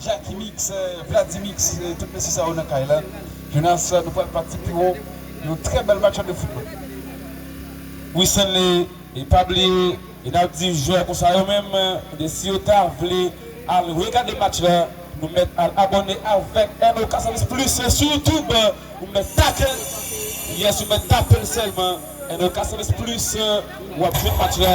Jacky mix, Vlady mix tout mesye sa yo nan kay la Jonas nou pral pati pi wo yon trè bèl match de football wi Stanley e pa bliye nap di jwè konsa yo menm ebyen si yo ta vle al regade match la nou mèt al abòne avèk NOK Service Plus sou youtube ou mèt tapel yes ou mèt tapel sèlman NOK Service Plus wap jwenn match la.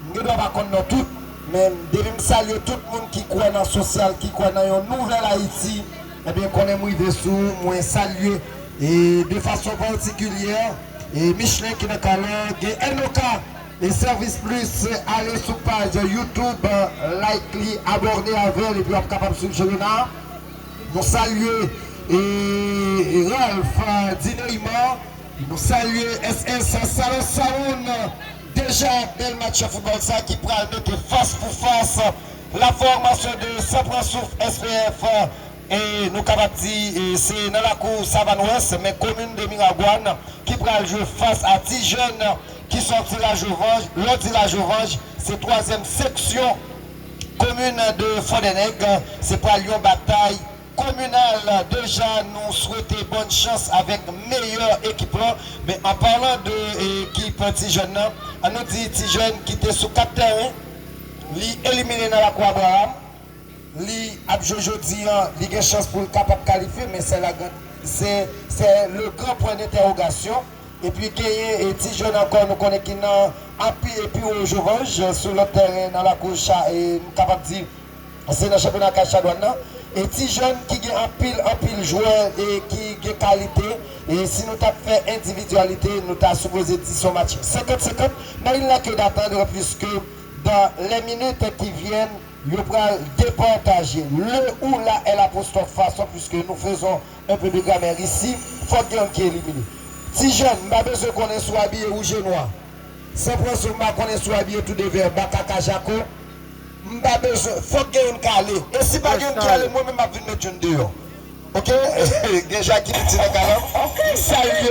M gendwa pa konn non tout, men depi m salye tout moun ki kwè nan sosyal, ki kwè nan yon nouvèl Ayiti, ebyen konnen m rive sou ou, mwen salye e de fason patikilyè e Michelin ki nan kay la, gen NOK e Service Plus, ale sou paj YouTube, like li, aborne avè l epi w ap kapab swiv Chelena. Nou salye e Ralph Dineyman. Nou salye SS Salon Sawoun deja bèl match foutbòl sa ki pral mete fas pou fas la fòmasyon de San Pran Souf SPF e nou kapab di se nan lakou Savann Wès men komin de Miragwàn ki pral jwe fas a ti jèn ki sòti Lajovanj, lè w di Lajovanj se twazyèm seksyon komin de Fòdènèg se pral yon batay Kominal deja nou swete bòn chans avèk meyè ekip lan men an parlan de ekip ti jèn nan an nou di ti jèn ki te sou 4 tèren li elimine nan lakou Abraham li ap jwe jodi an li gen chans pou l kapab kalifye men sè la gran sè sè le gran pwen dentèwogasyon epi genyen ti jèn ankò nou konnen ki nan api epi wo jovanj sou lòt tèren nan lakou cha e nou kapab di se nan chanpyona Kaj Chadwann nan e ti jèn ki gen anpil anpil jwè e ki gen kalite e si nou tap fè endividyalite nou ta sipoze di son match 50 50 men il nè ke datandr piske dan lè minit ki vyèn yo pral depataje le ou la è lapostròf fason piske nou fezon enpe de gramèr isi fòk gen youn ki elimine ti jèn m pa bezwen konnen si w abiye wouj e nwa san pran zo m pa konnen si w abiye tou de vè baka ka jako. M pa bezwen, fok gen youn kale. E si pa gen youn ki ale mwen menm map vin met youn deyò ok gen jaki piti nan kalanm m salye.